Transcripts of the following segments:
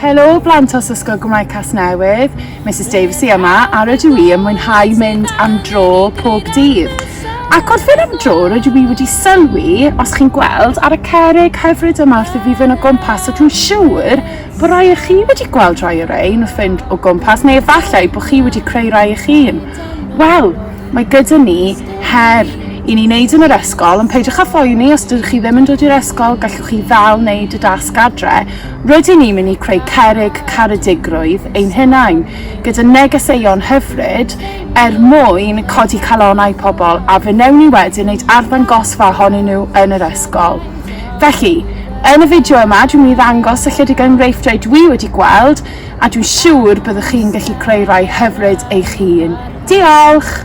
Helo blant os Ysgol Gymraeg Casnewydd, Misus Davies i yma a rydw i yn mwynhau mynd am dro pob dydd. Ac wrth fynd am dro rydw i wedi sylwi, os chi'n gweld, ar y cerrig hyfryd yma wrth i fi fynd o gwmpas a dwi'n siŵr bod rhai o chi wedi gweld rhai o rein wrth fynd o gwmpas neu efallai bod chi wedi creu rhai eich hun. Wel, mae gyda ni her i ni wneud yn yr ysgol ond peidiwch â phoeni os dydych chi ddim yn dod i'r ysgol gallwch chi ddal wneud y dasg adre Rydyn ni'n mynd i creu cerrig caredigrwydd ein hunain, gyda negeseuon hyfryd, er mwyn codi calonnau pobl, a fe wnewn ni wedyn wneud arddangosfa ohonyn nhw yn yr ysgol. Felly, yn y fideo yma, dwi'n mynd i ddangos ychydig enghreifftiau dwi wedi gweld, a dwi'n siŵr byddwch chi'n gallu creu rhai hyfryd eich hun. Diolch!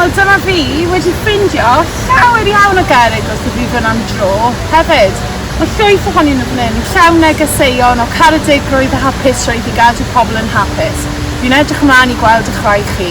Wel dyma fi wedi ffindio llawer iawn o gerrig os ydw i fan am dro hefyd. Mae llwyth ohonyn nhw fan hyn, llawn negeseuon o caredigrwydd a hapusrwydd i gadw pobl yn hapus. Fi'n edrych ymlaen i gweld y chwaer chi.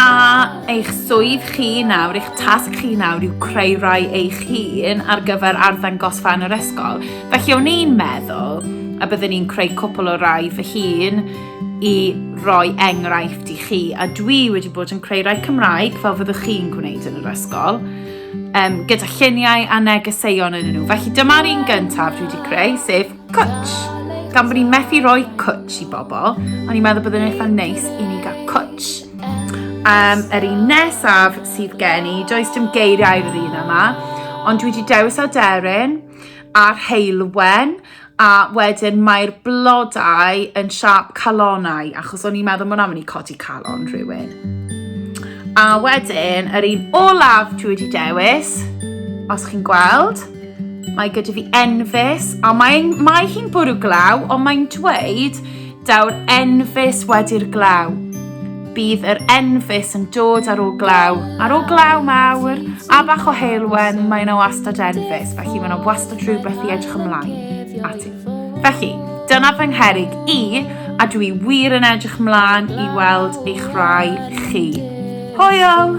A eich swydd chi nawr, eich tasg chi nawr yw creu rai eich hun ar gyfer arddangosfa yn yr ysgol. Felly o'n i'n meddwl a byddwn i'n creu cwpl o rai fy hun i roi enghraifft i chi. A dwi wedi bod yn creu rai Cymraeg fel fyddwch chi'n gwneud yn yr ysgol um, gyda lluniau a negeseuon yn nhw. Felly dyma'r un gyntaf dwi wedi creu, sef Cwtsh! Gan bod ni'n methu rhoi cwtsh i bobl, o'n i'n meddwl byddai'n eitha neis i ni gael cwtsh. Um, yr un nesaf sydd gen i, does dim geiriau i'r un yma, ond dwi wedi dewis aderyn a'r heilwen a wedyn mae'r blodau yn siap calonau achos o'n i'n meddwl mwyn am i codi calon rhywun. A wedyn, yr un olaf dwi wedi dewis, os chi'n gweld, Mae gyda fi enfys, a mae, mae hi'n bwrw glaw, ond mae'n dweud, daw'r enfys wedi'r glaw. Bydd yr enfys yn dod ar ôl glaw, ar ôl glaw mawr, a bach o heilwen, mae yna wastad enfys, felly mae yna wastad rhywbeth i edrych ymlaen ati. Felly, dyna fy ngherig i, a dwi wir yn edrych mlaen i weld eich rhai chi. Hwyl!